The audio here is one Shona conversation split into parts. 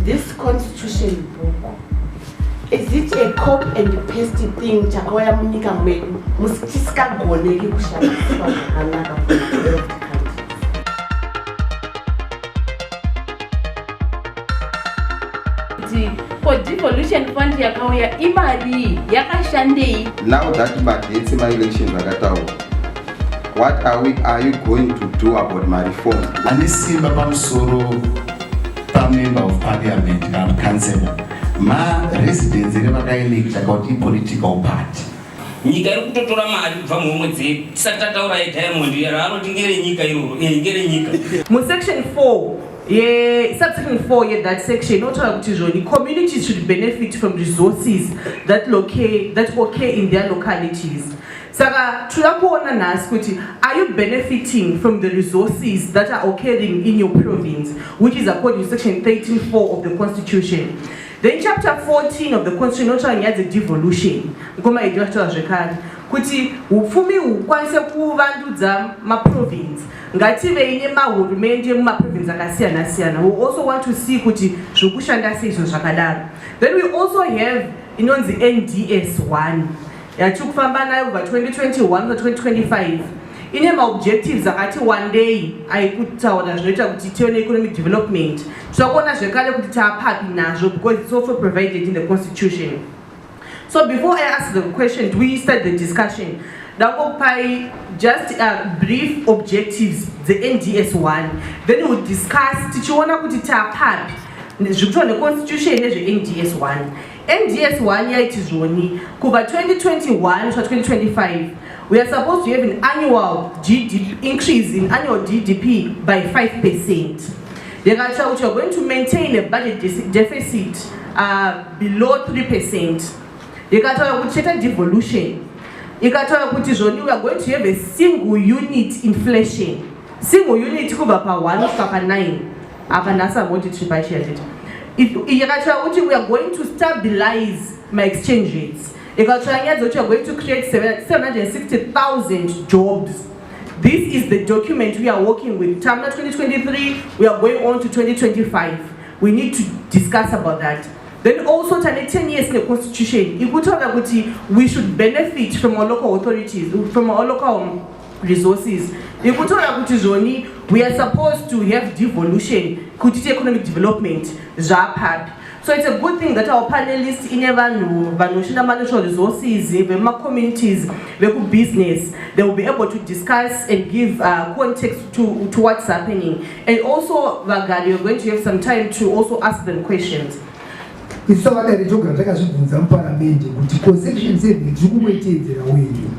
This constitution book is it a cop and paste thing chakauya munyika medu muchisingagoneki kushandiswa zvakanaka ko devolution fund yakauya imarii yakashandei now that magetsi maelection akataura What are, we, are you going to do about my reform? Ane simba pamusoro pamember of parliament kana councillor ma residence ere vakaelekta kuti ipolitical party nyika iri kutotora mari kubva muhomwe dzedu tisati tataura yediamond iro anoti ngerenyika iroro e eh, ngerenyika musection 4 yesubsection 4 yethat section inotaura kuti zvoni communities should benefit from resources that, locate, that occur in their localities saka tinoda kuona nhasi kuti are you benefiting from the resources that are occurring in your province which is according to section 134 of the constitution then chapter 14 of the constitution inotaura nyaya dzedevolution mukoma idi vachitaura zvekare kuti upfumi hukwanise kuvandudza maprovince ngativei nemahurumende mumaprovince akasiyana siyana we also want to see kuti zvekushanda seizvo zvakadaro then we also have inonzi nds one yatiri kufamba nayo kubva 2021 kuda 2025 ine maobjectives akati wandei aikutaura zvinoita kuti tive neeconomic development tinokuona zvekare kuti taapapi nazvo because its also provided in the constitution so before i ask the question do we start the discussion ndakopai just uh, brief objectives dzends one then we discuss tichiona kuti taapapi zvikuitwa neconstitution nezvends one NDS one yaiti zvoni kubva 2021 kusvika 2025 we are supposed to have an annual GDP increase in annual GDP by 5 percent yakatsva kuti you're going to maintain a budget deficit uh, below 3 percent ikataura kuti chete devolution ikataura kuti zvoni we are going to have a single unit inflation single unit kubva pa 1 kusvika pa 9 apa nhasi amoti tiri pachiya tete ikatya kuti weare going to stabilize maexchange rates ikatya nyaya dzokuti weare going to create 760000 jobs this is the document we are working with tamna 2023 we are going on to 2025 we need to discuss about that then also tane 10 years neconstitution ikutaura kuti we should benefit from our local authorities from our local resources nekutora kuti zvoni we are supposed to have devolution kuti ti economic development zvapapi so it's a good thing that our panelist ine vanhu vanoshanda manatural resources vemumacommunities vekubusiness they will be able to discuss and give uh, context to, to what's happening and also vagari we're going to have some time to also ask them questions Isu savadare togara takazvibvunza muparamende kuti conception seven tiri kungoiteedzera wenyu.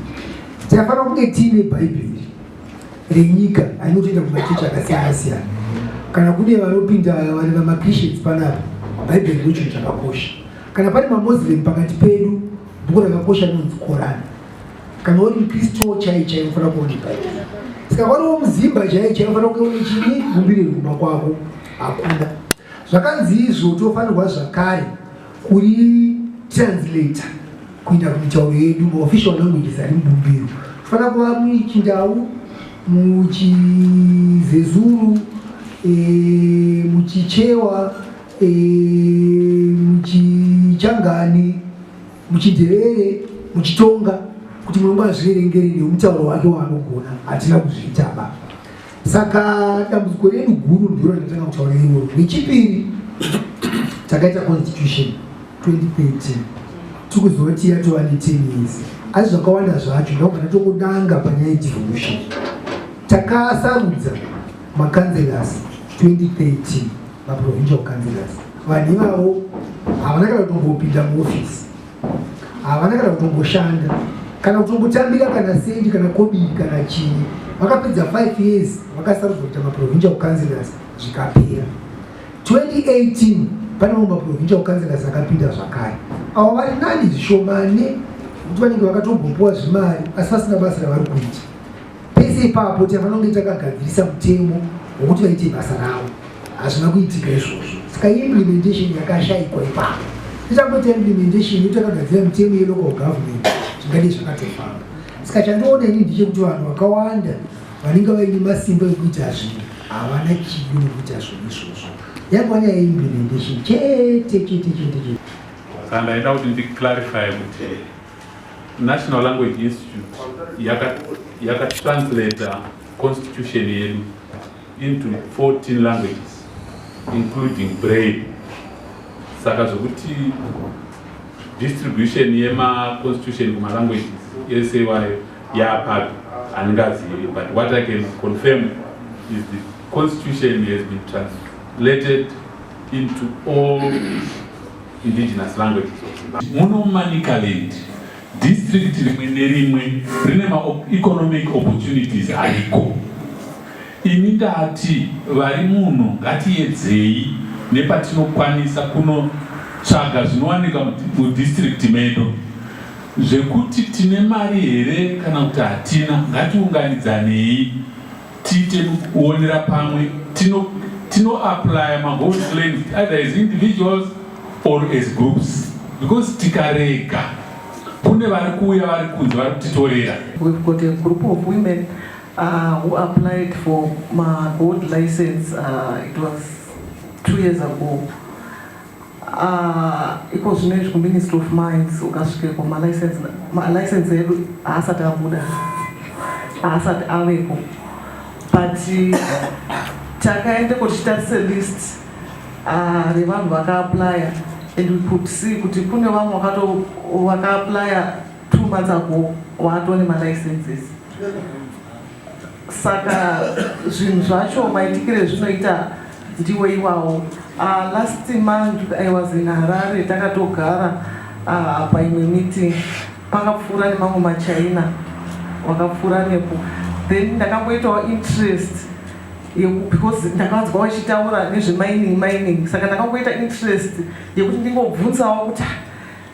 Tinofanira kunge tiine Bhaibheri renyika anotoenda kumachechi akasiyana siyana. Kana kune vanopinda vari vamaChristians panapa, Bhaibheri ndo chinhu chakakosha. Kana pane maMuslim pakati pedu, bhuku rakakosha rinonzi Korani. Kana uri muKristu chaiye chaiye unofanira kuone Bhaibheri. Saka wari womuzimba chaiye chaiye unofanira kunge une chini gumbiriro kumba kwako hakuna. Zvakanzi izvo tofanirwa zvakare kuri translator kuenda kumitauro yedu maofficial languages ari mubumbiro kufanira kuva muchindau muchizezuru e, muchichewa e, muchichangani muchidherere muchitonga kuti mulungu azviverengere nemutauro wake waanogona hatina kuzviitaba Saka dambudziko redu guru ndiro ratanga kutaura iroro. Nechipiri takaita constitution 2013 tikuzoti yatova ne 10 years asi zvakawanda zvacho ndakubva tatongotanga panyaya yedevolution takasarudza macancelors 2013 maprovincial cancelors vanhu ivavo havana kana kutombopinda muofisi havana kana kutomboshanda kana kutombotambira kana sendi kana kodii kana chii vakapedza 5 years vakasarudza kuita maprovincial councilors zvikapera 2018 pane mamwe maprovincial councilors akapinda zvakare avo vari nani zvishomane kuti vanenge vakatombopuwa zvimari asi vasina basa ravari kuita Pese ipapo tavanonge takagadzirisa mutemo wokuti vaite basa ravo, hazvina kuitika izvozvo. Saka implementation yakashaikwa ipapo. Tichangoita implementation yekuti takagadzira mutemo yelocal government zvingade zvakatofamba. Saka chandoona ini ndechekuti vanhu vakawanda vanenge vaine masimba ekuita zvinhu havana chido nekuita zvinhu izvozvo. Yangova nyaya yeimplementation chete chete chete chete. Saka ndaida kuti ndiclarify kuti National Language Institute yakatranslator yaka constitution yedu into 14 languages including braille saka zvokuti distribution yemaconstitution kumalanguages ese iwayo yaapapi handingazivi but what i can confirm is the constitution has been translated into all indigenous languages of Zimbabwe. Muno muManicaland, district rimwe nerimwe rine maeconomic opportunities ariko. Ini ndati vari muno ngatiyedzei nepatinokwanisa kunotsvaga zvinowanika mudistrict medu zvekuti tine mari here kana kuti hatina ngatiunganidzanei tiite kuonera pamwe tino tino apply magold claims either as individuals or as groups because tikarega kune vari kuuya vari kunze vari kutitorera we've got a group of women uh, who applied for magold license uh, it was two years ago Uh, iko zvino izvi kuministry of mines ukasvikeko malicense edu haasati abuda haasati aveko but takaendeko tichitarise list uh, revanhu vakaaplya and we could see kuti kune vamwe vakato vakaaplya two months ago waatone malicenses saka zvinhu zvacho maitikire zvinoita ndiwo iwawo uh, last month i was in harare takatogara uh, apa imwe meeting pakapfuura nemamwe machina wakapfuura nepo then ndakamboitawo interest because ndakanzwa vachitaura nezvemining mining saka ndakamboita interest yekuti ndingobvunzawo kuti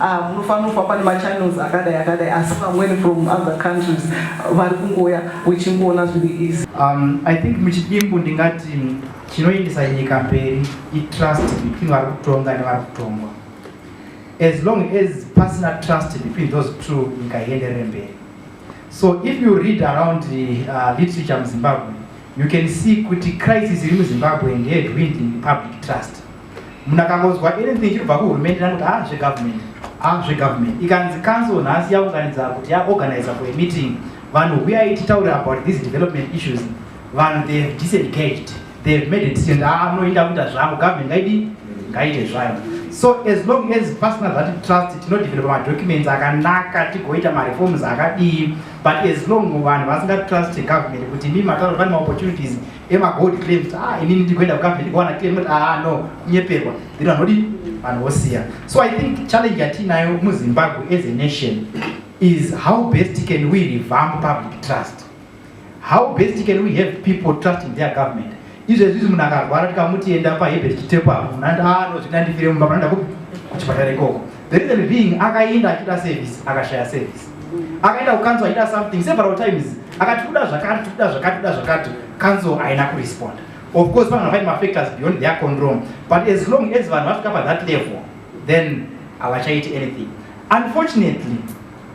Ah, munofanira kufamba nemachannels akadai akadai asi vamweni from other countries vari kungouya wechingoona zviri easy um, i think muchidimbu ndingati chinoendesa nyika mberi itrust between vari kutonga nevari kutongwa as long as pasina trust between those two nyika ienderere mberi so if you read around the, uh, literature muzimbabwe you can see kuti crisis iri muzimbabwe ndeyedwinding public trust munhu akangonzwa anything chiri kubva kuhurumende nakuti a ah, zvegovernment a ah, zvegovernment ikanzi council nhasi yaunganidza kuti yaorganiza for a meeting vanhu huyai titaure about these development issues vanhu they have disengaged they have made a decision a ah, munoinda kuita zvangu government ngaidi ngaite zvayo so as long as pasina zvati trust tinodevelopa madocuments akanaka tigoita mareforms akadii but as long vanhu vasingatruste government kuti mi mataura pane maopportunities ema gold claims ah inini ndikuenda kukambe ndikuwana claim kuti ah no kunyeperwa then vanodi vanhu vosiya so i think challenge yatinayo muzimbabwe as a nation is how best can we revamp public trust how best can we have people trust in their government izvezvizi munhu akarwara tikamuti enda pahebert chitepo apo munhu ati ah no zvinoda ndifire mumba munhu anda kuchipatara ikoko the reason being akaenda achida service akashaya service akaenda kukanzo achida something several times akati kuda zvakati kuda zvakati kuda zvakati kanzo haina kuresponda of course vanhu vaine mafactors beyond their control but as long as vanhu vasvika pathat level then havachaiti anything unfortunately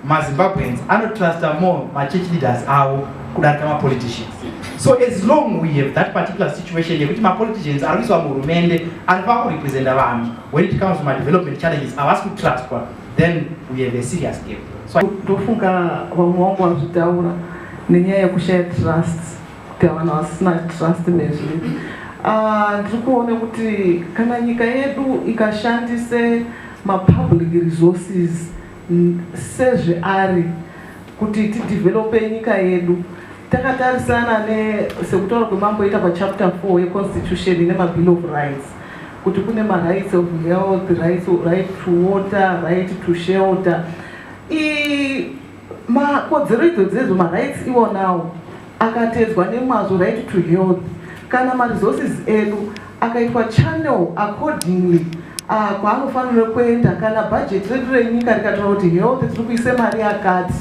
mazimbabweans anotrusta more machurch leaders avo kudarika mapoliticians so as long we have that particular situation yekuti mapoliticians ari kuiswa muhurumende ari pava kurepresenta vanhu when it comes to madevelopment challenges havasi kutrustwa then we have a serious game so ndofunga vamwe wangu vazvitaura nenyaya yekushaya trust kuti havana vasina trust nezviri ah, ndiri kuona kuti kana nyika yedu ikashandise mapublic resources sezveari kuti tidevelope nyika yedu takatarisana ne sekutaura kwemamboita pachapter 4 yeconstitution ine mabill of rights kuti kune marights of health right, right to water right to shelter makodzero idzo dzezo marights iwonawo akatedzwa nemazvo right to health kana maresources edu akaitwa channel accordingly ah, kwaanofanira kuenda kana budget redu renyika rikataura kuti health tiri kuise mari yakati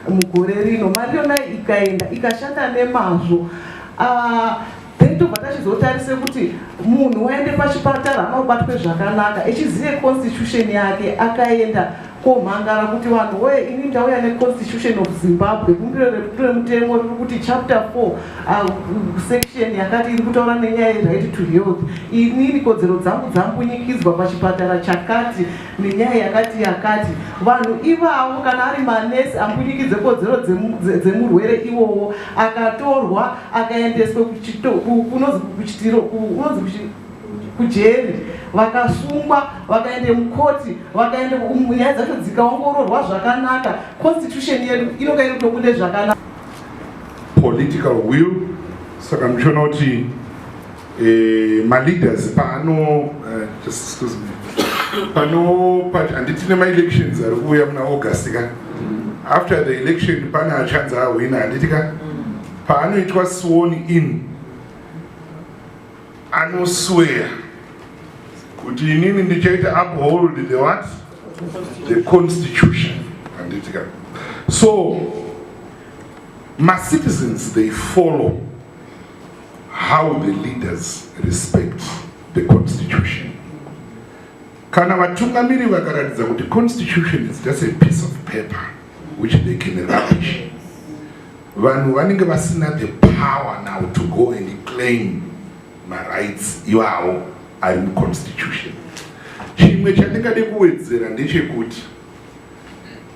mugore rino mari yona ikaenda ikashanda nemazvo ah, then tobva tachizotarise kuti munhu waende pachipatara anobatwe zvakanaka echizive constitution yake akaenda komhangara kuti vanhu woye ini ndauya neconstitution of zimbabwe bumbiro remutemo riri kuti chapter four ah, section yakati iri kutaura nenyaya yeright to health inini kodzero dzangu dzambunyikidzwa pachipatara chakati nenyaya yakati yakati vanhu ivavo kana ari manesi ambunyikidze kodzero dzemurwere iwowo akatorwa akaendeswa kunonzi kuchitiro kunonzi kujeri vakasungwa vakaenda mukoti vakaenda nyaya dzacho dzikaongororwa zvakanaka constitution yedu inonga iri kutobude zvakanaka political will saka ndichiona kuti eh, maleaders paano eh, just excuse me pano pati handiti nemaelections ari kuuya muna august ka after the election pane achanzi ahwina handiti ka Paanoitwa sworn in anosweya kuti inini ndichaita uphold the what the constitution handitika so macitizens they follow how the leaders respect the constitution kana vatungamiri vakaratidza kuti constitution is just a piece of paper which they can rubbish Vanhu vanenge vasina the power now to go and claim marights iwawo ari muconstitution. Chimwe chandingade kuwedzera ndechekuti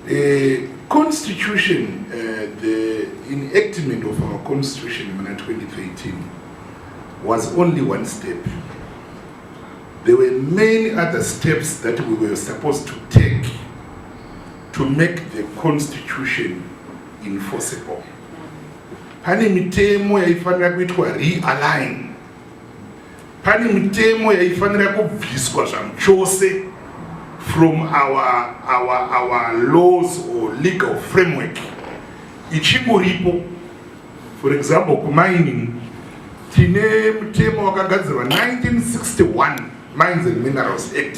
eh, constitution eh, the enactment of our constitution muna 2013 was only one step there were many other steps that we were supposed to take to make the constitution enforceable pane mitemo yaifanira kuitwa realign pane mitemo yaifanira kubviswa zvamuchose from our, our, our laws or legal framework ichingoripo for example kumining tine mutemo wakagadzirwa 1961 mines and minerals act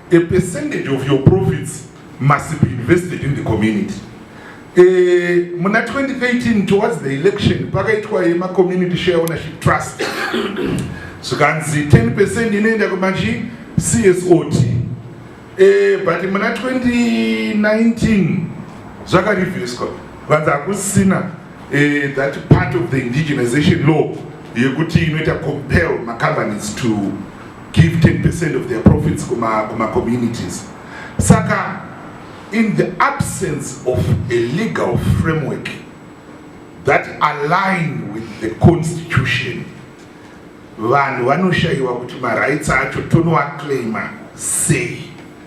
A percentage of your profits must be invested in the community. Eh, muna 2013 towards the election pakaitwa yema community share ownership trust zvikanzi 10 percent inoenda kumachi CSOT eh, but muna 2019 zvakarivhiswa vanzi hakusina eh, that part of the indigenization law yekuti inoita compel macompanies to give 10% of their profits kuma, kuma communities saka in the absence of a legal framework that align with the constitution vanhu vanoshayiwa kuti marights acho tonowaclaima sei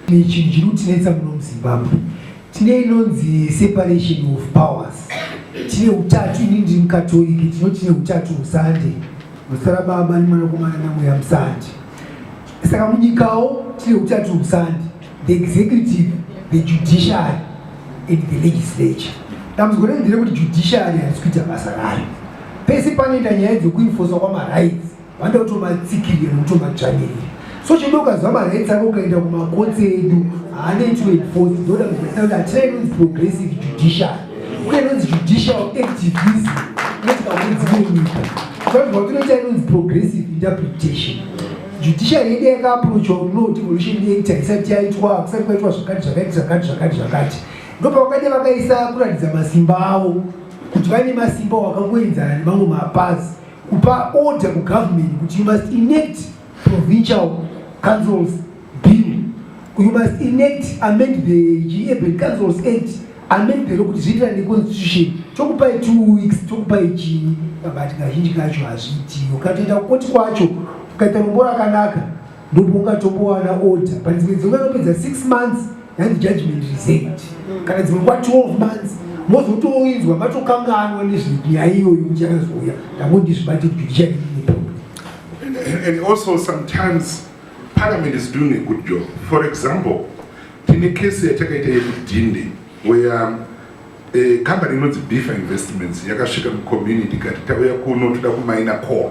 Chinhu chinotinetsa muno muZimbabwe tine inonzi separation of powers. Tine utatu, ini ndiri muKatoriki, tino tine utatu husande, musara baba nemwanakomana namweya musande. Saka munyikawo tine utatu husande, the executive, the judiciary and the legislature. Dambudziko renderekuti judiciary harisi kuita basa rayo, pese panoenda nyaya dzekuinfosa kwamarights vanoda kutomatsikirira nekutomadzvanyirira so chidoka zvamaraits avo ukaenda kumakotsi edu haanoitwe enforce ndoda kuzivaisa kuti hatina inonzi progressive judicial kune inonzi judicial activism notikakudzimwe nyika vanhu vatinoita inonzi progressive interpretation judicial yedu yakaaproachwa kuno devolution act haisati yaitwa hakusati kwaitwa zvakati zvakati zvakati zvakati zvakati ndopavakade vakaisa kuratidza masimba avo kuti vane masimba wakangoenzana nemamwe mapazi kupa order kugovernment kuti you must enact provincial councils bill you must enact amend the urban councils act amend the lokuti zviitira neconstitution tokupai two weeks tokupai chii kabati kazhinji kacho hazviitiyo katoita kukoti kwacho ukaita rombo rakanaka ndipo ungatombowana order but dzimwe dzimwe anopedza six months yanzi judgment resent mm. kana dzimwe kwa 12 months mozotoinzwa matokanganwa nezvenyaya iyoyo muchakazouya ndangondizvibate judiciary and also sometimes parliament is doing a good job for example tine kesi yatakaita yekudhinde where eh, company inonzi bifa investments yakasvika mucommunity kati tauya kuno toda kumaina core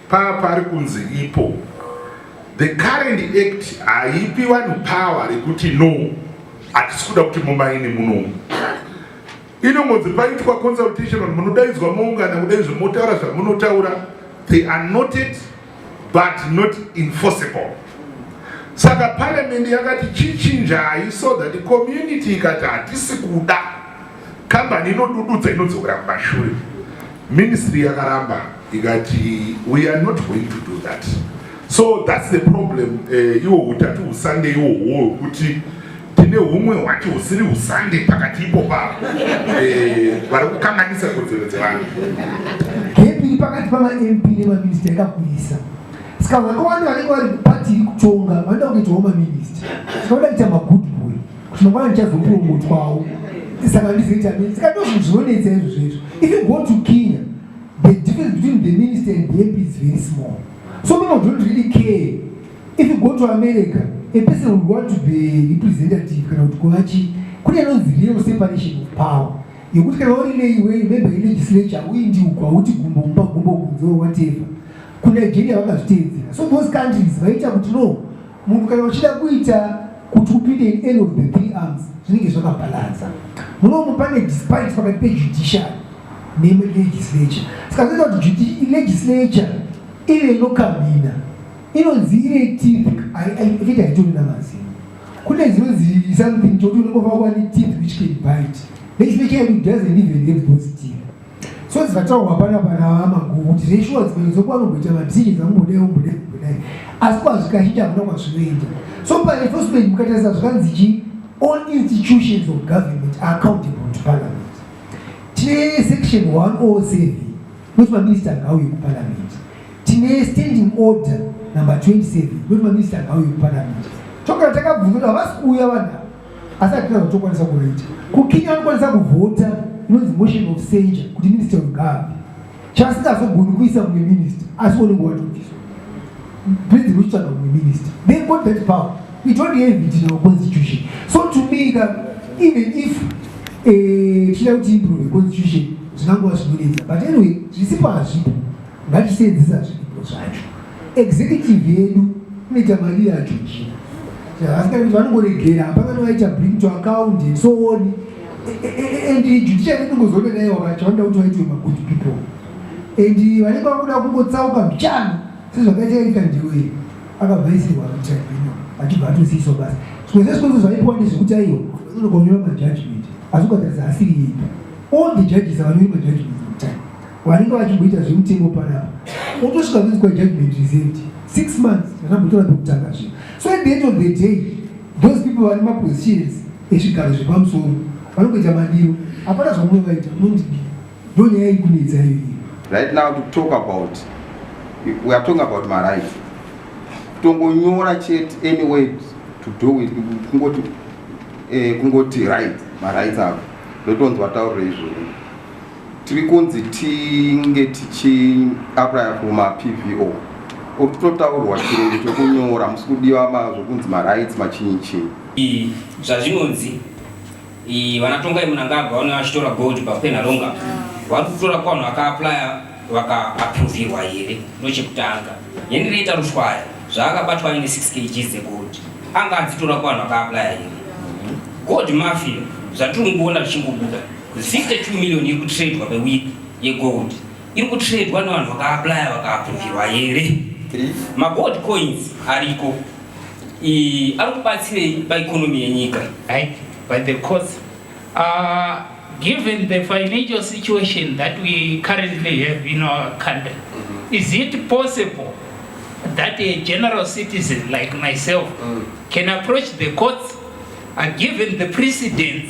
Power pari kunzi ipo. The current act haipi vanhu power rekuti no hatisi kuda kuti mumaini muno inongonzi paitwa consultation vanhu munodaidzwa moungana kudai zvemotaura zvamunotaura they are noted but not enforceable saka parliament yakati chichinjai so that community ikati hatisi kuda Kambani inodududza inodzokera kumashure. Ministry yakaramba ikati we are not going to do that. So that's the problem eh, iwo uh, utatu husande iwo huo hwekuti tine humwe hwacho husiri husande pakati ipo pavo eh, vari uh, kukanganisa kodzero dzevanhu. Gepiri pakati pamaMP nemaminista yakakurisa saka vakawanda vanenge vari pati iri kutonga vanoda kuitawo maminista saka vanoda kuita magudu Zvinongwana ndichazopuromotwawo. Saka ndizoita mini. Saka ndozvinhu zvinonetsa izvo zvezvo. If you go to Kenya, the difference between the minister and the MP is very small. So people don't really care. If you go to America, a person would want to be representative kana kuti kuva chii. Kune anonzi real separation of power. Yekuti kana uri neiwe member yelegislature uindi uko hauti gumbo mumba gumbo kunze or whatever. KuNigeria vakazviteedzera. So those countries vaita kuti no Munhu kana uchida kuita kuti upinde in any of the three arms zvinenge zvakabalansa munomu pane despite pakati pejudiciary nelegislature saka zvinoita kuti legislature ine inokamina inonzi ine teeth ekuti haitoni namazino kune zinonzi something chokuti unongofakwa ne teeth which can bite legislature yedu doesn't even have those teeth so dzikataurwa panapa navamaguvu kuti zveshuwa dzimwe dzokuva nomboita madhii dzamubodai ombodai ombodai asi kwazvikachita hamuna kwazvinoenda so paenforcement mukatarisa zvakanzi chi all institutions of government are accountable to parliament tine section 107 kuti maminista ngauye kuparliament tine standing order number 27 kuti maminista ngauye kuparliament tokana takabvunzira havasi kuuya vanhu asi hatina zvatokwanisa kuvaita kukenya vanokwanisa kuvhota inonzi motion of censure kuti minister wegavi chasingazogoni kuisa mumwe minister asi unenge watobviswa president uchitsvaga mumwe minister they got that power we don't have it in our constitution so to me ka even if eh, chida kuti improve constitution zvinangova zvinonetsa but anyway zvisipo hazvipo ngatiseenzesa zviripo zvacho executive yedu inoita mari yacho chii asikaiti vanongoregera hapana novaita bring to account and so on and judiciary inongozoona naye wakacho vanoda kuti vaitwe magood people and vanenge vakuda kungotsauka mbichana sezvakaita erika ndiwei akabvaisirwa mutribunal achibva atosiyiswa basa zvikwese zvikwese zvaipiwa ndezvekuti aiwa vanonogonyora majudgment asi ukatarisa asiri yeipa all the judges avanyori majudgment vanenge vachimboita zvemutengo panapa otosvika kuitwa judgment resent six months akambotora pekutanga zve so at the end of the day those people vane mapositions ezvigaro zvepamusoro vanongoita madiro hapana zvamuno vaita unondidii ndo nyaya ikunetsa iyo right now to talk about we are talking about my rights kutongonyora chete any way to do with kungoti eh, kungoti right marights avo ndotonzwa taurira izvozvo tiri kunzi tinge tichiaplya kumapvo uri kutotaurwa chirungu chekunyora musi kudiwa zvokunzi marights machinyi chinyi zvazvinonzi vanatongai munangagwa vane vachitora gold pakwena longa vari kutora kwanhu vakaaplya vakaapruvirwa here ndochekutanga yenireita rushwaya zvaakabatwa aine 6 kg dzegold anga adzitora kwanhu akaaplya here gold mafia zvatiri kungoona zvichingobuda 62 million iri kutredwa pewiki yegold iri kutredwa nevanhu vakaaplaya vakaapruvirwa here magold coins ariko ari kubatsirei paekonomi yenyika by the course uh, given the financial situation that we currently have in our country mm -hmm. is it possible that a general citizen like myself mm. can approach the courts and given the precedence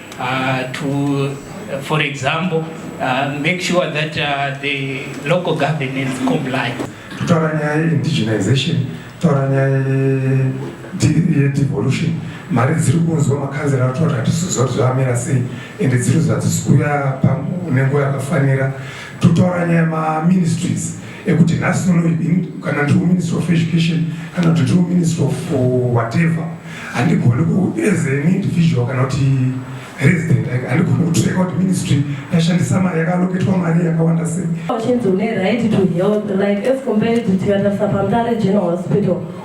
Uh, to, uh, for example, uh, make sure that uh, the local governance comply. Kutaura nyaya ye-indigenization, kutaura nyaya ye-devolution, mari dziri kunzwa makanzera ari kutaura hatisiziva kuti zvamira sei ende dziri zvadzisikuyapa nenguva yakafanira totaura nyaya maministries ekuti nhasi uno kana ndiri kuministry of education kana kuti ndiri kuministry of uh, whatever handigoni as an individual kana kuti resident handigoni kutreka kuti ministry yashandisa mari yakaloketwa mari yakawanda sei uchinzi une right to health like as compared to tikatarisa pamutare general hospital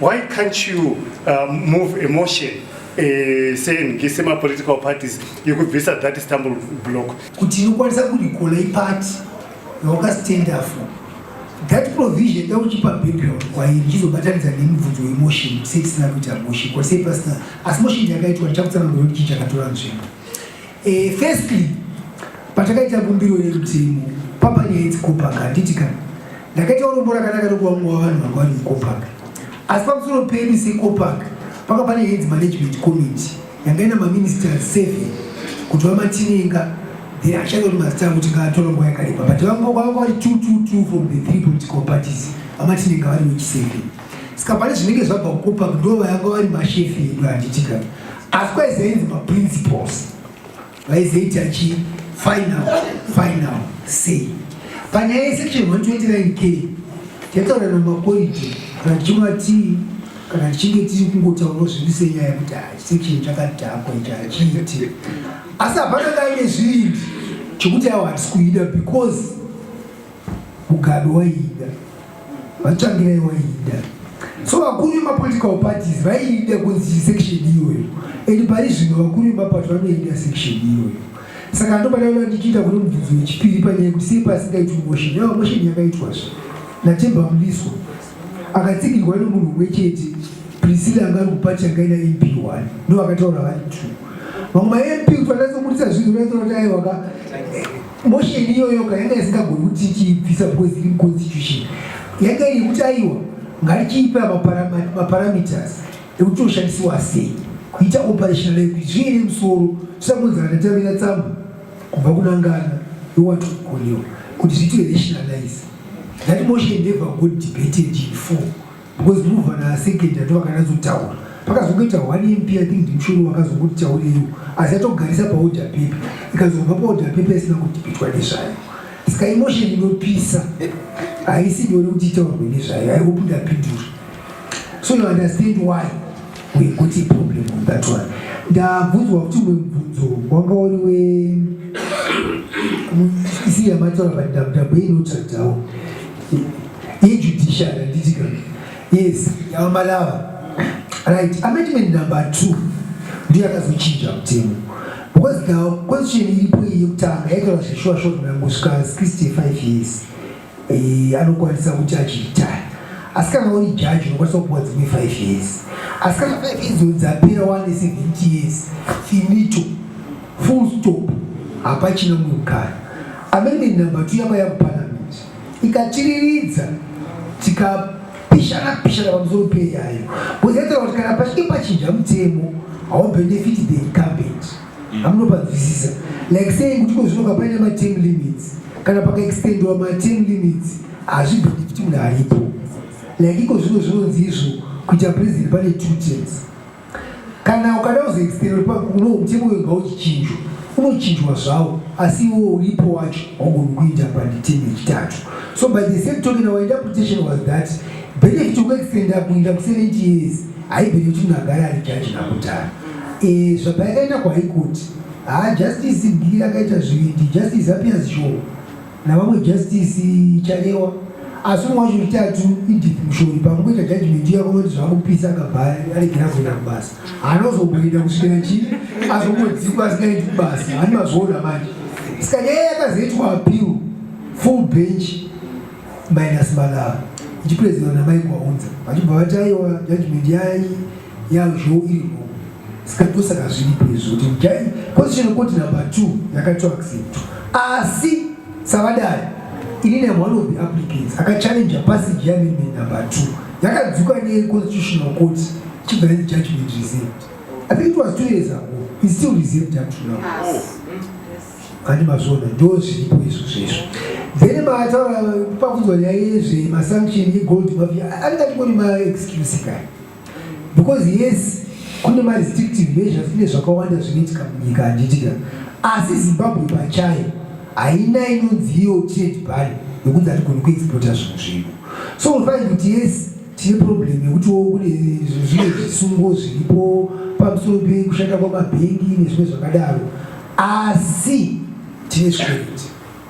Why can't you uh, move a motion uh, saying ngesema political parties yekubvisa that stumble block kuti inokwanisa kurikola ipati yaukastenda for that provision dauchipa background kwairi chizobatanidza nemubvunzo wemotion sei tisina kuita motion kwasei pasina asi motion yakaitwa ndichakutsanangura kuti chii chakatora nzvimbo Eh, firstly patakaita kumbiro yerutemo papanyaya idzi kopaka handiti kana ndakaita urombo rakanaka rokuva mumwe wavanhu vanga vari mukopaka asi pamusoro pedu sekopaka panga pane heads management committee yanga ina maminister seven kuti vamatinenga then achada kuti mazita avo tingatora nguva yakareba but vanga vanga vari two two two from the three political parties vamatinenga vari wechiseven Saka pane zvinenge zvabva kukupa ndova yanga vari mashefi edu handitika. Asi kwaizainzi maprinciples vaizaiti achi final final say panyaya yesection 129 k tataura namakoriti kana tichimwa tii kana tichinge tiri kungotaura zviri senyaya kuti section chakadhakwa ichi hachiiti asi hapana kaine zviindi chekuti awo hatisi kuida because mugado waiida vatsvangirai waida so vakuru vemapolitical parties vaida kunzi section iyoyo and pari zvino vakuru vemapato vanoenda section iyoyo saka ndopadaona ndichiita kune mubvunzo wechipiri panyaya kuti sei pasingaitwi motion yava motion yakaitwazve natemba muliso akatsigirwa nemunhu umwe chete prisila anga ari kupati yanga ina mp one ndo vakataura vari two vamwe mamp kufanira soburitsa zvinhu vaitaura kuti aiwaka Motion iyoyo kana yanga isingagoni kuti ichibvisa because iri constitution yanga iri kuti aiwa ngarichiipa maparameters ekuti oshandisiwa sei kuita operational language zviye nemusoro tisakonzana tatavira tsamba kubva kunangana yowatu koriwa kuti zviite rationalize that motion never got debated in four Because ndinobva na second ndo vakanatsotaura. Pakazokuita one MP I think ndimshuru wakazokuti chauriyo asi atogarisa pa order paper. Ikazobva pa order paper isina kuti pitwa nezvayo. Saka emotion inopisa haisi nyore kuti itaurwe nezvayo. I hope ndapindura. So you understand why we got a problem on that one. Ndabvunzwa kuti umwe mubvunzo wanga uri we isiya mataura pandabudabo inotsvagawo Hii judiciary handiti kana. Yes, yava malava. Right, amendment number 2 ndiyo akazochinja mutemo. Because the constitution iripo iyi yekutanga yaitaura zveshuwa short mangosvika 65 years. Eh, anokwanisa kuti achiitaya. Asi kana uri judge unokwanisa kupuwa dzimwe 5 years. Asi kana 5 years dzapera wane 70 years. Finito. Full stop. Hapachina mukana. Amendment number 2 yaba yakupana ikatiriridza tikapishana pishana pamusoro peyayo kuzetera kuti kana pachinge pachinja mutemo haubenefiti the incumbent mm. hamunopanzwisisa like saying kuti ko zvinoka paine mateam limits kana pakaextendiwa mateam limits hazvibenefiti munhu aripo like iko zvino zvinonzi izvo kuita president pane two terms kana ukada kuzoexperima kuno mutemo uyo ngauzvichinjwa unochinjwa zvawo asi iwo uripo wacho waugoni kuita panditemu yechitatu so by the same token our interpretation was that benefit yokuextenda kuinda ku70 years haibhene kuti munhu agara ari jaji nakudhara eh, zvabva yakaenda kwaikuti haa ah, justice mbiri akaita zvivindi justice appears sure navamwe Justice Chalewa asi umwe wacho wechitatu Edith Mushori pamukuita judgment iya kunoti zvakupisa akabva aregera kuenda kubasa anozomboenda kusvikira chii azombodzikwa asingaendi kubasa hani mazvoona manje saka nyaya yakazoitwa appeal full bench minus malava ichipresidiwa namai kwaunza vachibva vati aiwa judgment yai ya zvoirimo saka ndosaka zviripo izvo kuti jai constitutional court number two yakaitwa accepto asi savadari ini ne one of the applicants akachallenja passage yeamendment number two yakadzuka neconstitutional court ichibva yanzi judgment reserved i think it was two years ago is still reserved up to now handi mazvona ndo zviripo izvo zvezvo then maataura pakudzwa nyaya yezve masanction yegold mafia anenge atingori maexcuse kani because yes kune marestrictive measures kune zvakawanda zvinoitika munyika handitika asi zimbabwe pachayo haina inonzi iyo trade bari yokunzi hatigoni kuexporta zvinhu zvedu so unofanira kuti yes tine problem yekutiwo kune zvimwe zvisungo zviripo pamusoro pekushanda kwamabhengi nezvimwe zvakadaro asi tine zvikoreti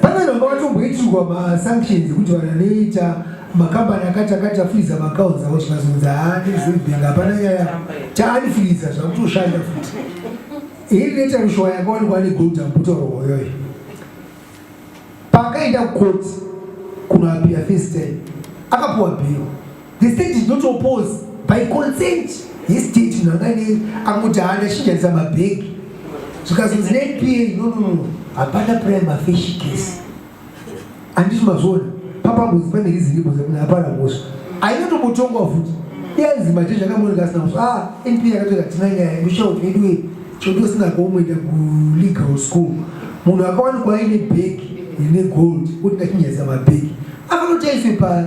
Pamwe vanga vatomboitirwa masanctions ekuti vanhu vanoita makambani akati akati afuriza maaccounts avo zvikazonzi haani zimbank hapana nyaya chaanifuriza zvakutoshanda futi iri neta rushowa yakawanikwa ane gold ambuta rwoyoyo paakaenda kukoti kunoapira first time akapuwa bhiro The state did not oppose by consent yestate munhu anganei angoti haana chishandisa mabhegi zvikazonzi nepa nonono hapana prime afish case anditi mazviona papambuzi pane riziripo zekuti hapana mhosva ainotombotongwa futi iyanzi mate zvakamoneka asina mhosva ah np yakatoka tina nyaya mushauti vedu we choti usina kaumboenda kulegal school munhu akawanikwa aine bhegi rine gold kuti ndachinyayisa mabhegi akanotaiswe pari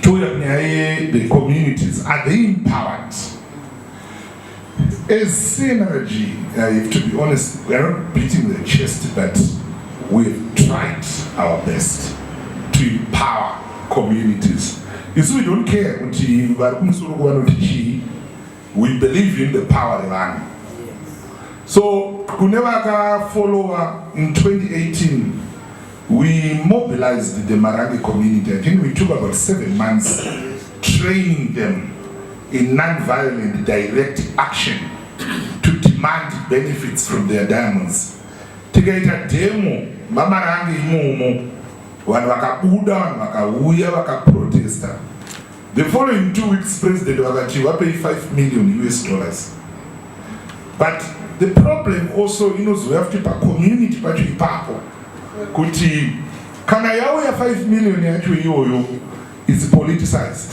Touya kunyaya yethe communities are they empowered as CNRG uh, if to be honest we are not beating the chest but we've tried our best to empower communities isu we don't care kuti vari kumusoro kuvanoti chii We believe in the power revanhu. So kune vakafollowa in 2018 we mobilized the Marange community. I think we took about seven months training them in non-violent direct action to demand benefits from their diamonds. Tikaita demo vamarange imomo vanhu vakabuda vanhu vakauya vakaprotesta The following two weeks president vakati vapei 5 million us dollars but the problem also inozouya futi pacommunity pacho ipapo kuti kana yauya 5 million yacho iyoyo is politicized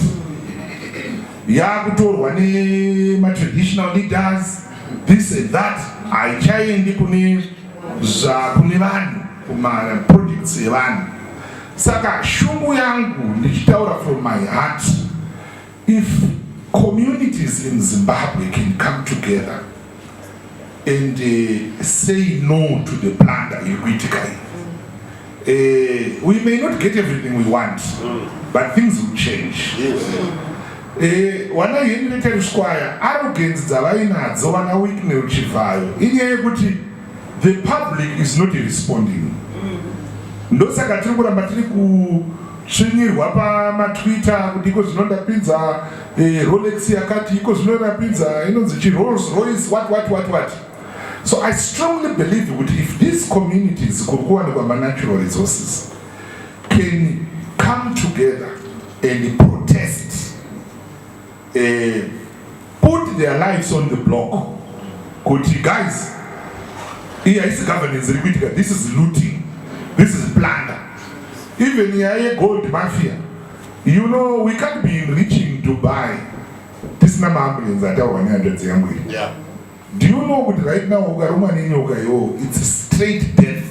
yakutorwa nematraditional leaders this and that haichaendi kune zvakune vanhu kumaprojects evanhu Saka shungu yangu ndichitaura from my heart if communities in Zimbabwe can come together and uh, say no to the plunder iri kuitika iyi uh, we may not get everything we want but things will change yes. Eh, wana henry teruswaya arrogance dzavainadzo vana wiknel chivhayo inyaya yekuti the public is not responding mm. ndosaka tiri kuramba tiri kutsvinyirwa pamatwitter kuti iko zvino ndapinza eh, rolex yakati iko zvino ndapinza inonzi chirolls royce what what what what so i strongly believe kuti if these communities kuri kuwanikwa manatural resources can come together and protest eh, put their lives on the block kuti guys iyi haisi governance iri kuitika this is looting this is plunder even nyaya yegold mafia you know we can't be reaching dubai tisina maambulance ataurwa nehanzvadzi yangu iri yeah. Do you know kuti right now ukarumwa nenyoka yoo it's straight death.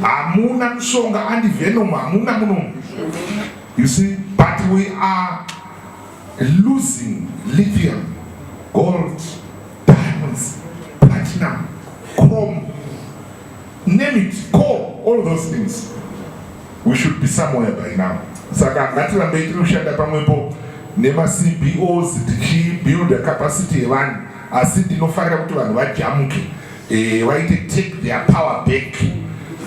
Hamuna mushonga and venom hamuna munomu. You see but we are losing lithium, gold, diamonds, platinum, chrome, name it, coal, all those things. We should be somewhere by now. Saka ngatirambei tiri kushanda pamwepo nema CBOs tichibuilda capacity yevanhu asi ndinofarira kuti vanhu vajamuke eh, vaite take their power back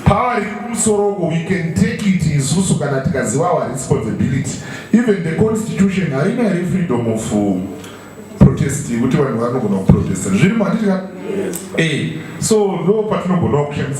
power riri kumusoro uko we can take it isusu kana tikaziva our responsibility even the constitution harina here freedom of uh, protest yekuti vanhu vanogona kuprotesta zvirimo handiti ka e eh, so ndo patinogonawo kushandisa